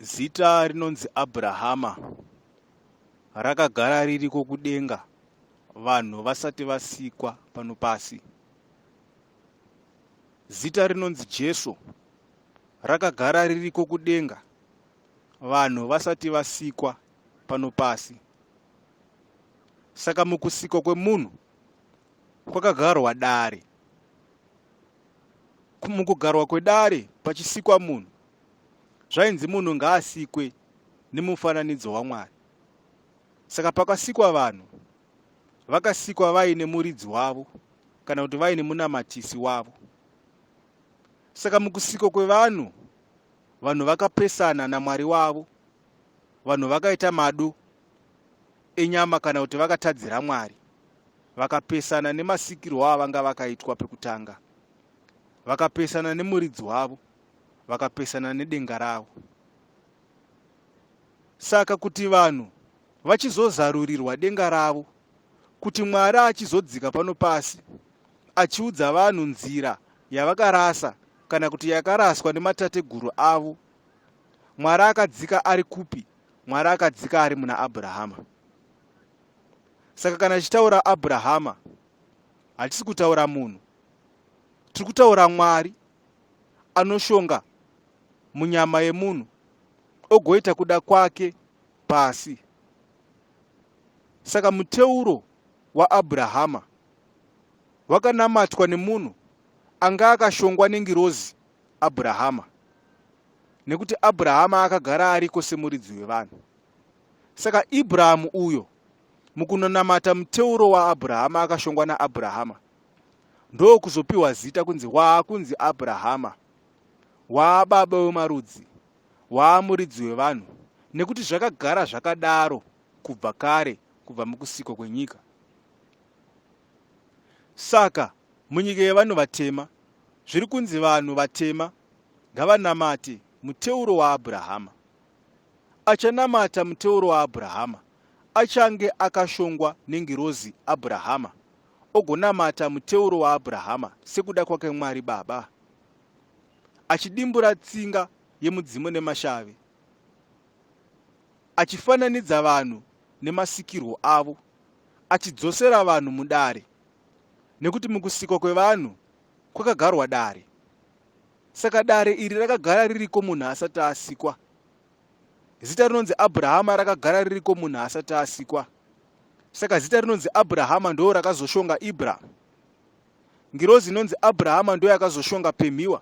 Zita rinonzi Abrahama rakagara ririko kudenga vanhu vasati vasikwa pano pasi. Zita rinonzi Jesu rakagara ririko kudenga vanhu vasati vasikwa pano pasi. Saka mukusikwa kwemunhu kwakagarwa dare. mukugarwa kwedare pachisikwa munhu zvainzi munhu ngaasikwe nemufananidzo wamwari saka pakasikwa vanhu vakasikwa vaine muridzi wavo kana kuti vaine munamatisi wavo saka mukusiko kwevanhu vanhu vakapesana namwari wavo vanhu vakaita madu enyama kana kuti vakatadzira Mwari vakapesana nemasikirwo avanga vakaitwa pekutanga, vakapesana nemuridzi wavo, vakapesana nedenga ravo. Saka kuti vanhu vachizozarurirwa denga ravo, kuti Mwari achizodzika pano pasi achiudza vanhu nzira yavakarasa kana kuti yakaraswa nematateguru avo, Mwari akadzika ari kupi mwari akadzika ari muna abrahama saka kana tichitaura abrahama hatisi kutaura munhu tiri kutaura mwari anoshonga munyama yemunhu ogoita kuda kwake pasi saka muteuro waabrahama wakanamatwa nemunhu anga akashongwa nengirozi Abhurahama, nekuti Abhurahama akagara ariko semuridzi wevanhu. Saka Ibrahamu uyo mukunonamata muteuro waAbhurahama akashongwa naAbhurahama ndokuzopiwa zita kunzi waakunzi Abhurahama, waababa wemarudzi, waamuridzi wevanhu, nekuti zvakagara zvakadaro kubva kare, kubva mukusiko kwenyika. Saka munyika yevanhu vatema zviri kunzi vanhu vatema ngavanamate muteuro waAbrahama. Achanamata muteuro waAbrahama achange akashongwa nengirozi Abrahama ogonamata muteuro waAbrahama sekuda kwake Mwari Baba, achidimbura tsinga yemudzimu nemashavi. achifananidza vanhu nemasikirwo avo, achidzosera vanhu mudare, nekuti mukusikwa kwevanhu kwakagarwa dare. Saka dare iri rakagara ririko munhu asati asikwa. Zita rinonzi Abrahama rakagara ririko munhu asati asikwa. Saka zita rinonzi Abrahama ndoo rakazoshonga Ibra. Ngirozi inonzi Abrahama ndoyakazoshonga Pemhiwa.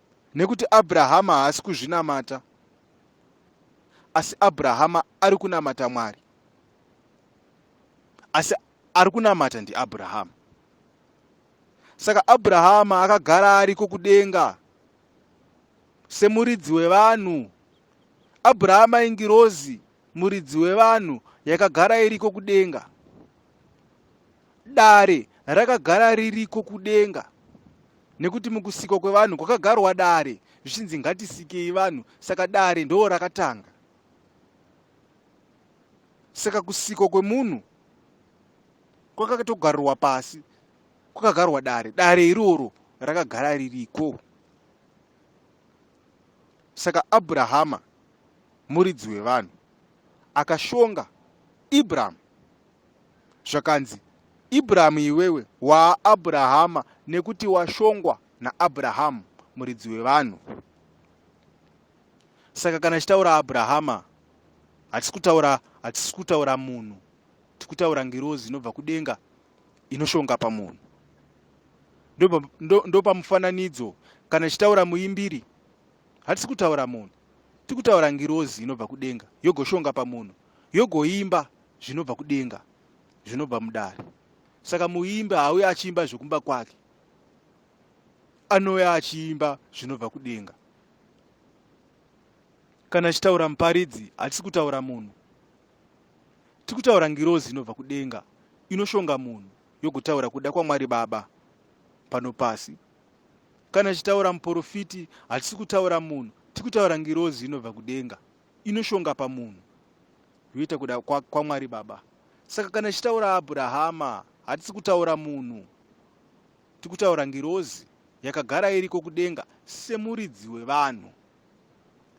Nekuti Abrahama haasi kuzvinamata, asi Abrahama ari kunamata Mwari. Asi ari kunamata ndiAbrahama. Saka Abrahama akagara ariko kudenga semuridzi wevanhu. Abrahama ingirozi Muridzi wevanhu yakagara iriko kudenga. Dare rakagara ririko kudenga nekuti mukusikwa kwevanhu kwakagarwa dare zvichinzi ngatisikei vanhu saka dare ndoo rakatanga saka kusikwa kwemunhu kwakatogarwa pasi kwakagarwa dare dare iroro rakagara ririko Saka Abrahama muridzi wevanhu akashonga Abraham zvakanzi Abraham iwewe waa Abrahama nekuti washongwa naAbraham muridzi wevanhu. Saka kana chitaura Abrahama hatisi kutaura hatisi kutaura munhu tikutaura ngirozi inobva kudenga inoshonga pamunhu ndopamufananidzo ndo, ndo kana ichitaura muimbiri hatisi kutaura munhu tiri kutaura ngirozi inobva kudenga yogoshonga pamunhu yogoimba zvinobva kudenga zvinobva mudare saka muimbi haauye achiimba zvekumba kwake anouya achiimba zvinobva kudenga kana achitaura muparidzi hatisi kutaura munhu tiri kutaura ngirozi inobva kudenga inoshonga munhu yogotaura kuda kwamwari baba pano pasi kana tichitaura muporofiti hatisi kutaura munhu tiri kutaura ngirozi inobva kudenga inoshonga pamunhu yoita kuda kwamwari kwa baba saka kana tichitaura abrahama hatisi kutaura munhu tiri kutaura ngirozi yakagara iriko kudenga semuridzi wevanhu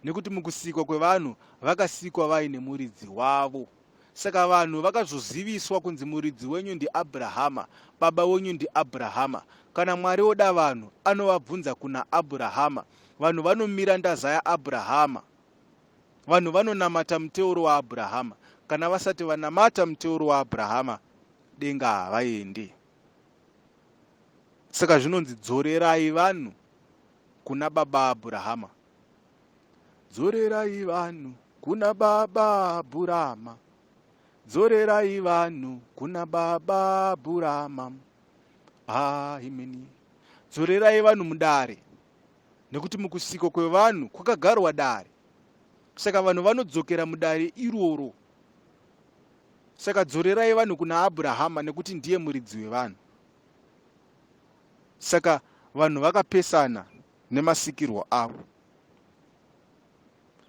nekuti mukusikwa kwevanhu vakasikwa vaine muridzi wavo saka vanhu vakazoziviswa kunzi muridzi wenyu ndiabrahama baba wenyu ndiabrahama kana mwari oda vanhu anovabvunza kuna abrahama vanhu vanomira ndaza yaabrahama vanhu vanonamata muteuro waabrahama kana vasati vanamata muteuro waabrahama denga havaendi saka zvinonzi dzorerai vanhu kuna baba Abrahama. Dzorerai vanhu kuna baba Abrahama. Dzorerai vanhu kuna baba Abrahama. Ah, imini. Dzorerai vanhu mudare. Nekuti mukusiko kwevanhu kwakagarwa dare. Saka vanhu vanodzokera mudare iroro. Saka dzorerai vanhu kuna Abrahama nekuti ndiye muridzi wevanhu. saka vanhu vakapesana nemasikirwo avo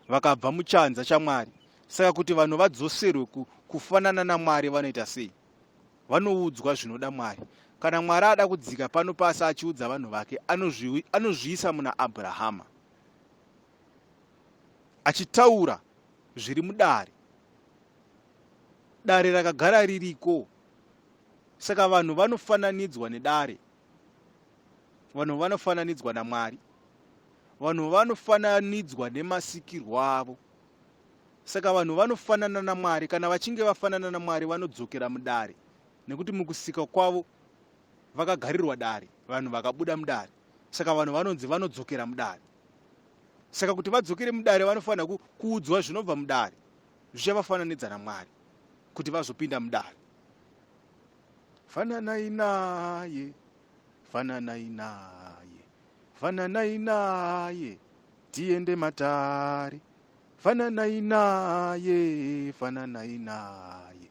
vakabva muchanza chamwari saka kuti vanhu vadzoserwe kufanana namwari vanoita sei vanoudzwa zvinoda mwari kana mwari ada kudzika pano pasi achiudza vanhu vake anozviisa muna abrahama achitaura zviri mudare dare rakagara ririko Saka vanhu vanofananidzwa nedare, vanhu vanofananidzwa naMwari, vanhu vanofananidzwa nemasikirwo avo. Saka vanhu vanofanana naMwari, kana vachinge vafanana naMwari vanodzokera mudare, nekuti mukusika kwavo vakagarirwa dare, vanhu vakabuda mudare. Saka vanhu vanonzi vanodzokera mudare. Saka kuti vadzokere mudare vanofanira kuudzwa zvinobva mudare zvichavafananidza naMwari. kuti vazopinda mudare fananai naye fananai naye fananai naye tiende matare fananai naye fananai naye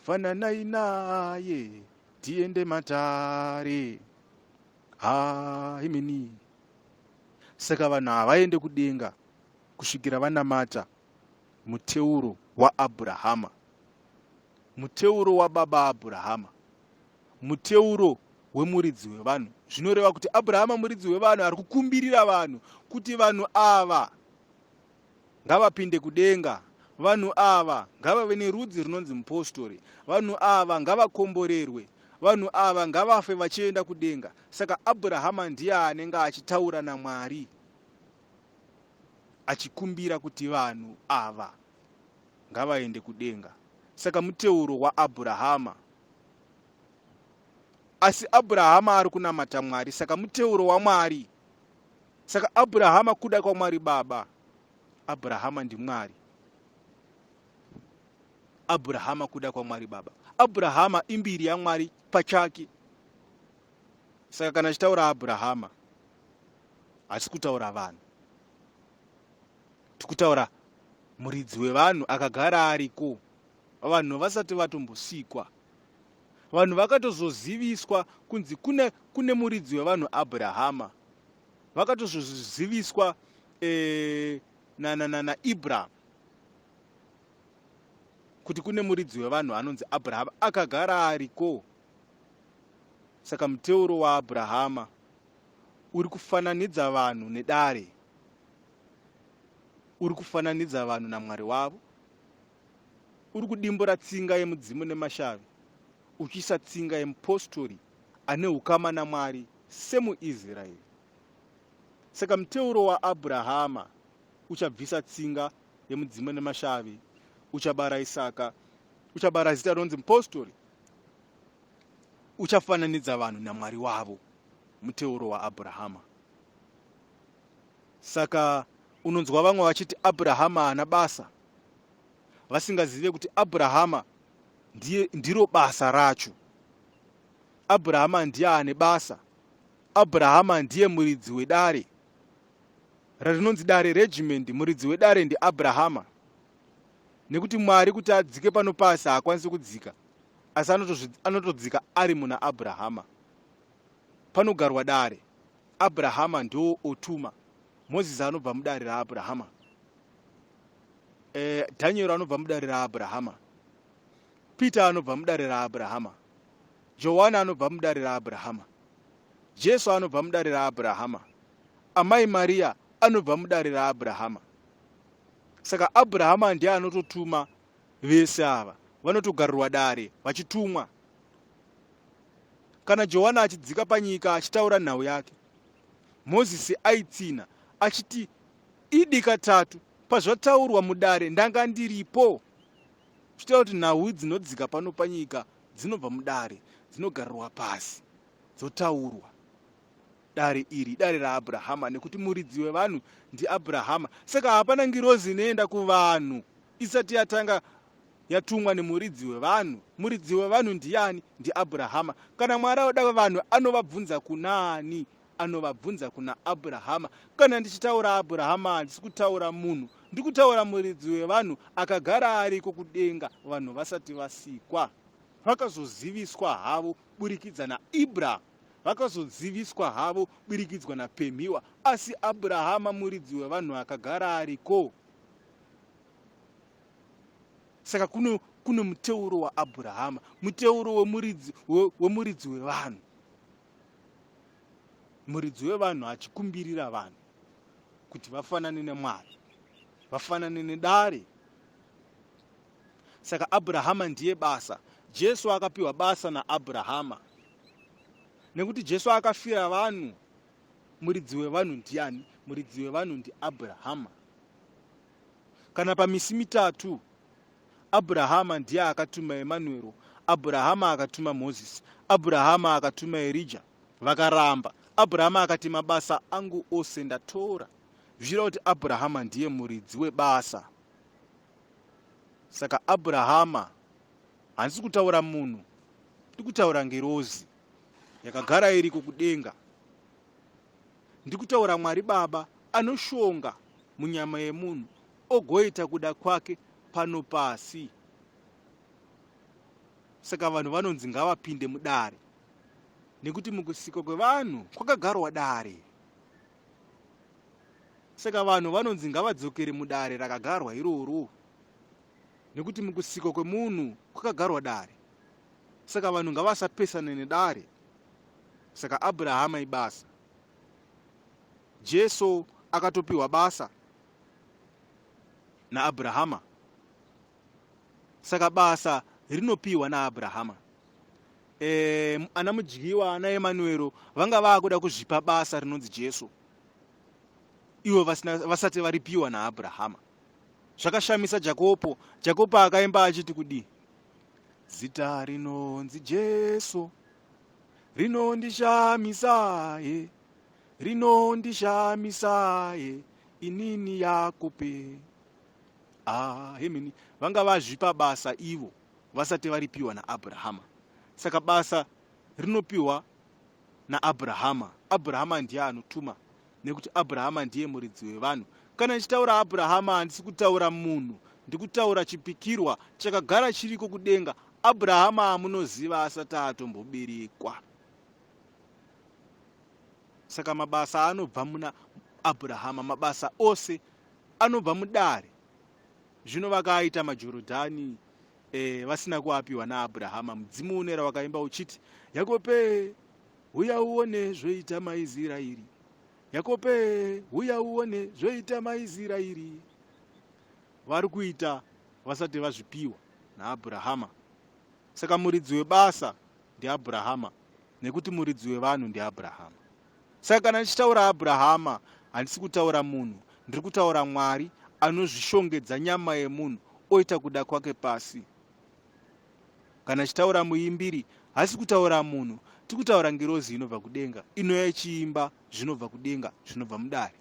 fananai naye tiende matare ha imini saka vanhu havaende kudenga kusvikira vanamata muteuro waAbrahama, muteuro wababa Abrahama, muteuro wemuridzi wevanhu. Zvinoreva kuti Abrahama muridzi wevanhu ari kukumbirira vanhu kuti vanhu ava ngavapinde kudenga vanhu ava ngavave nerudzi runonzi mupostori vanhu ava ngavakomborerwe vanhu ava ngavafe vachienda kudenga saka abrahama ndiye anenge achitaura namwari achikumbira kuti vanhu ava ngavaende kudenga saka muteuro waabhurahama asi abhurahama ari kunamata mwari saka muteuro wamwari saka abhurahama kuda kwamwari baba abhurahama ndimwari abhurahama kuda kwamwari baba abhurahama imbiri yamwari pachake saka kana achitaura abrahama hatisi kutaura vanhu tikutaura muridzi wevanhu akagara ariko vanhu vasati vatombosikwa vanhu vakatozoziviswa kunzi kune kune muridzi wevanhu abrahama vakatozoziviswa e, eh, nanananaibraham kuti kune muridzi wevanhu anonzi abrahama akagara ariko na, na, na, Saka muteuro waAbrahama uri kufananidza vanhu nedare, uri kufananidza vanhu naMwari wavo, uri kudimbura tsinga yemudzimu nemashavi, uchiisa tsinga yemupostori ane ukama naMwari semuIsraeri. Saka muteuro waAbrahama uchabvisa tsinga yemudzimu nemashavi, uchabara Isaka, uchabara zita rinonzi mupostori, uchafananidza vanhu namwari wavo muteuro waabrahama saka unonzwa vamwe vachiti abrahama haana basa vasingazive kuti abrahama ndiye ndiro basa racho abrahama ndiye ane basa abrahama ndiye muridzi wedare rarinonzi dare regimendi muridzi wedare ndiabrahama nekuti mwari kuti adzike pano pasi haakwanisi kudzika asi anotodzika ari muna abrahama panogarwa dare abrahama ndo otuma mozisi anobva mudare raabrahama e, dhanieri anobva mudare raabrahama peter anobva mudare raabrahama johani anobva mudare raabrahama jesu anobva mudare raabrahama amai mariya anobva mudare raabrahama saka abrahama ndiye anototuma vese ava vanotogarirwa dare vachitumwa kana johani achidzika panyika achitaura nhau yake mozisi aitsinha achiti idi katatu pazvataurwa mudare ndanga ndiripo zvichitaura kuti nhau dzinodzika pano panyika dzinobva mudare dzinogarirwa pasi dzotaurwa Dare iri idare raAbrahama, nekuti muridzi wevanhu ndiAbrahama. Saka hapana ngirozi inoenda kuvanhu isati yatanga yatumwa nemuridzi wevanhu. Muridzi wevanhu ndiani? NdiAbrahama. Kana Mwari oda vanhu anovabvunza kunaani? Anovabvunza kuna Abrahama. Kana ndichitaura Abrahama handisi kutaura munhu, ndikutaura muridzi wevanhu akagara ariko kudenga vanhu vasati vasikwa. Vakazoziviswa havo burikidza naIbrahama. Vakazoziviswa havo birikidzwa naPemhiwa asi Abrahama muridzi wevanhu akagara ariko. Saka kuno kune muteuro waAbrahama, muteuro wemuridzi wemuridzi wevanhu. Muridzi wevanhu achikumbirira vanhu kuti vafanane neMwari, vafanane nedare saka abrahama ndiye basa jesu akapiwa basa naabrahama nekuti jesu akafira vanhu muridzi wevanhu ndiani muridzi wevanhu ndiabrahama kana pamisi mitatu abrahama ndiye akatuma emanuero abrahama akatuma mozisi abrahama akatuma erija vakaramba abrahama akati mabasa angu ose ndatora zvichira kuti abrahama ndiye muridzi webasa saka abrahama handisi kutaura munhu ndiri kutaura ngirozi yakagara iriko kudenga ndiri kutaura mwari baba anoshonga munyama yemunhu ogoita kuda kwake pano pasi saka vanhu vanonzi ngavapinde mudare nekuti mukusikwa kwevanhu kwakagarwa dare saka vanhu vanonzi ngavadzokere mudare rakagarwa iroro nekuti mukusikwa kwemunhu kwakagarwa dare saka vanhu ngavasapesane nedare saka abrahama ibasa jesu akatopiwa basa naabrahama saka basa rinopiwa naabrahama um ana mudyiwa ana emanuero vanga vaakuda kuzvipa basa rinonzi jesu ivo vasati varipiwa naabrahama zvakashamisa jakopo jakopo akaimba achiti kudii zita rinonzi jesu rinondishamisaye rinondishamisaye inini yakupe ahemini vanga vazvipa basa ivo vasati varipiwa naAbrahama. Saka basa rinopiwa naAbrahama. Abrahama ndiye anotuma nekuti Abrahama ndiye muridzi wevanhu. Kana ndichitaura Abrahama handisi kutaura munhu, ndikutaura chipikirwa chakagara chiriko kudenga. Abrahama amunoziva asati atomboberekwa. Saka mabasa anobva muna Abrahama, mabasa ose anobva mudare Zvino vakaaita maJorodhani e, vasina kuapiwa naAbrahama. Mudzimu unera wakaimba uchiti, Yakope, huya uone zvoita maIzirairi. Yakope, huya uone zvoita maIzirairi. Vari kuita vasati vazvipiwa naAbrahama. Saka muridzi webasa ndiAbrahama nekuti muridzi wevanhu ndiAbrahama. Saka kana ndichitaura Abrahama, handisi kutaura munhu, ndiri kutaura Mwari anozvishongedza nyama yemunhu oita kuda kwake pasi. Kana chitaura muimbiri, hasi kutaura munhu, tiri kutaura ngirozi inobva kudenga, inouya ichiimba zvinobva kudenga, zvinobva mudare.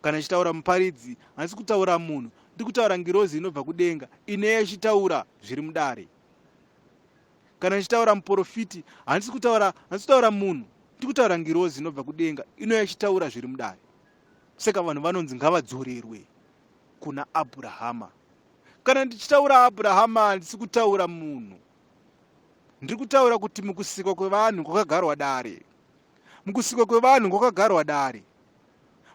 Kana chitaura muparidzi, hasi kutaura munhu, ndiri kutaura ngirozi inobva kudenga, inouya ichitaura zviri mudare. kana ndichitaura muporofiti handisi kutaura handisi kutaura munhu ndiri kutaura ngirozi inobva kudenga inouya ichitaura zviri mudare saka vanhu vanonzi ngavadzorerwe kuna abrahama kana ndichitaura abrahama handisi kutaura munhu ndiri kutaura kuti mukusikwa kwevanhu kwakagarwa dare mukusikwa kwevanhu kwakagarwa dare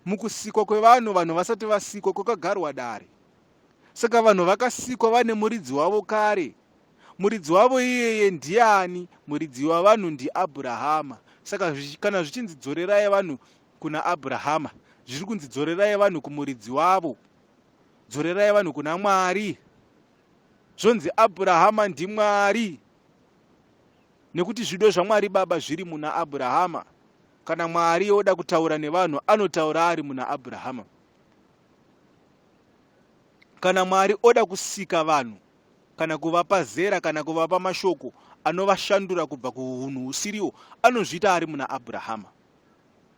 mukusikwa kwevanhu vanhu vasati vasikwa kwakagarwa dare saka vanhu vakasikwa vane muridzi wavo kare muridzi wavo iyeye ndiani muridzi wavanhu ndiabrahama saka kana zvichinzi dzorerai vanhu kuna abrahama zviri kunzi dzorerai vanhu kumuridzi wavo dzorerai vanhu kuna mwari zvonzi abrahama ndimwari nekuti zvido zvamwari baba zviri muna abrahama kana mwari oda kutaura nevanhu anotaura ari muna abrahama kana mwari oda kusika vanhu kana kuvapa zera kana kuvapa mashoko anovashandura kubva kuhunhu husiriwo anozviita ari muna abrahama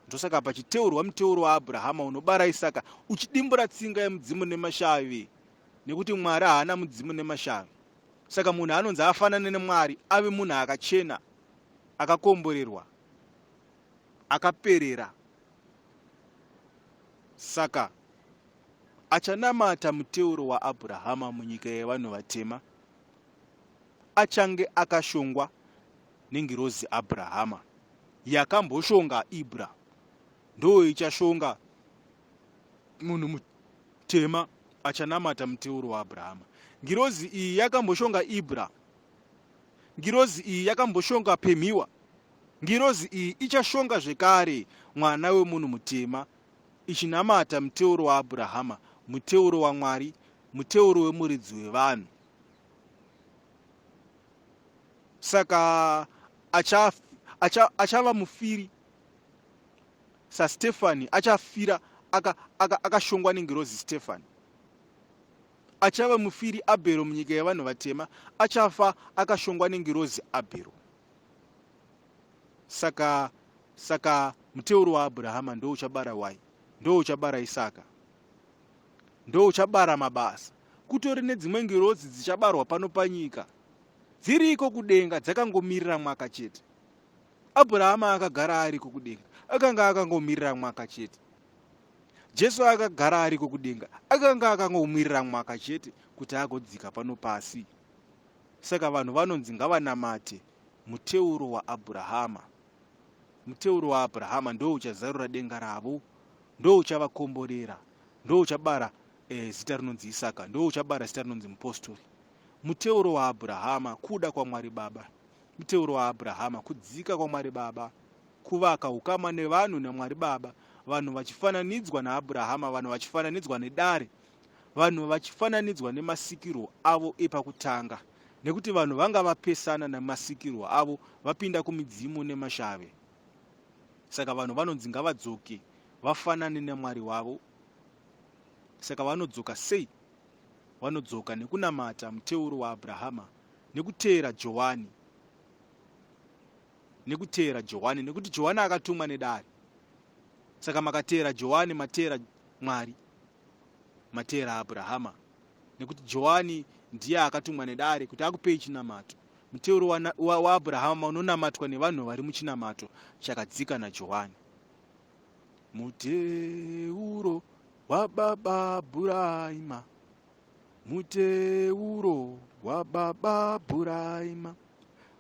ndosaka pachiteurwa muteuro waabrahama unobara isaka uchidimbura tsinga yemudzimu nemashavi nekuti mwari haana mudzimu nemashavi saka munhu anonzi afanane nemwari ave munhu akachena akakomborerwa akaperera Saka achanamata muteuro waAbrahama munyika yevanhu vatema achange akashongwa nengirozi Abrahama yakamboshonga Ibra ndoo ichashonga munhu mutema achanamata muteuro waAbrahama. Ngirozi iyi yakamboshonga Ibra, ngirozi iyi yakamboshonga Pemhiwa, Ngirozi iyi ichashonga zvekare mwana wemunhu mutema, ichinamata muteuro waAbrahama, muteuro waMwari, muteuro wemuridzi wevanhu. Saka achava acha, acha mufiri saStefani, achafira akashongwa aka, aka nengirozi Stefani achava mufiri abhero munyika yevanhu vatema achafa akashongwa nengirozi abhero saka saka muteuro waabhurahama ndouchabara wai ndouchabara isaka ndouchabara mabasa kutori nedzimwe ngirozi dzichabarwa pano panyika dziriko kudenga dzakangomirira mwaka chete abhurahama akagara ariko kudenga akanga akangomirira mwaka chete jesu akagara ariko kudenga akanga akangomirira mwaka chete kuti agodzika pano pasi Saka vanhu vanonzi ngavanamate muteuro waAbrahama. Muteuro waAbrahama ndo uchazarura denga ravo, ndo uchavakomborera, ndo uchabara e, zita rinonzi Isaka, ndo uchabara zita rinonzi mupostori. Muteuro waAbrahama kuda kwaMwari Baba. Muteuro waAbrahama kudzika kwaMwari Baba, kuvaka ukama nevanhu naMwari Baba, vanhu vachifananidzwa naAbrahama, vanhu vachifananidzwa nedare, vanhu vachifananidzwa nemasikirwo avo epakutanga, nekuti vanhu vanga vapesana nemasikirwo avo vapinda kumidzimu nemashave. Saka vanhu vanonzi ngavadzoke vafanane naMwari wavo. Saka vanodzoka sei? Vanodzoka nekunamata muteuro waAbrahama, nekuteera Johani, nekuteera Johani, nekuti Johani akatumwa nedare. Saka makateera Johani, mateera Mwari. Mateera Abrahama nekuti Johani ndiye akatumwa nedare kuti akupei chinamato. Muteuro waAbrahama wa, wa unonamatwa nevanhu vari muchinamato chakadzika naJohani. Muteuro wababa Abrahama, muteuro wababa Abrahama,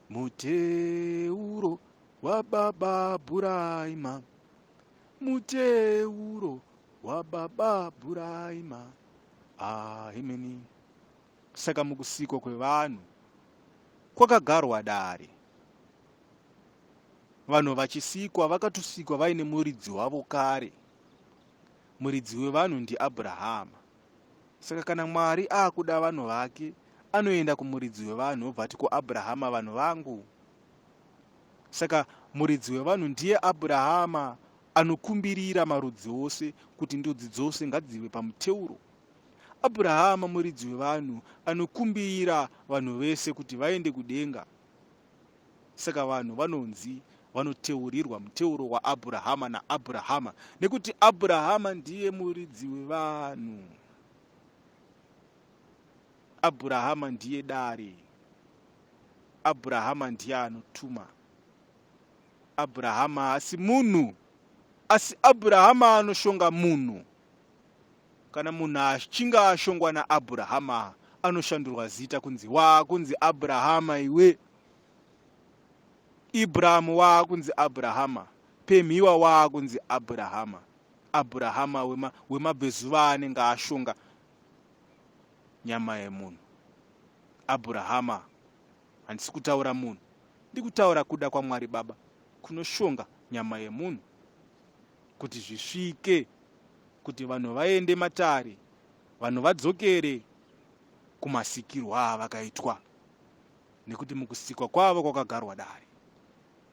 muteuro wababa Abrahama, muteuro wababa Bhuraima ahimini saka mukusikwa kwevanhu kwakagarwa dare vanhu vachisikwa vakatosikwa vaine muridzi wavo kare muridzi wevanhu ndiabrahama saka kana mwari akuda vanhu vake anoenda kumuridzi wevanhu obva ati kuabrahama vanhu vangu saka muridzi wevanhu ndiye abrahama Anokumbirira marudzi ose kuti ndudzi dzose ngadzive pamuteuro. Abrahama muridzi wevanhu anokumbirira vanhu vese kuti vaende kudenga. Saka vanhu vanonzi vanoteurirwa muteuro waAbrahama naAbrahama nekuti Abrahama ndiye muridzi wevanhu. Abrahama ndiye dare. Abrahama ndiye anotuma. Abhurahama haasi munhu, asi Abhurahama anoshonga munhu. Kana munhu achinge ashongwa naAbhurahama, anoshandurwa zita kunzi waakunzi Abhurahama iwe. Ibrahamu waakunzi Abhurahama, Pemhiwa waakunzi Abhurahama. Abhurahama wema, wemabvezuva anenge ashonga nyama yemunhu. Abhurahama Handisi kutaura munhu, ndikutaura kuda kwaMwari Baba kunoshonga nyama yemunhu kuti zvisvike kuti vanhu vaende matare, vanhu vadzokere kumasikirwo avakaitwa nekuti mukusikwa kwavo kwakagarwa dare.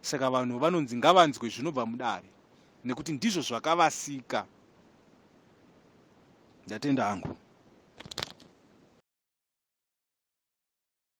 Saka vanhu vanonzi ngavanzwe zvinobva mudare nekuti ndizvo zvakavasika. Ndatenda hangu.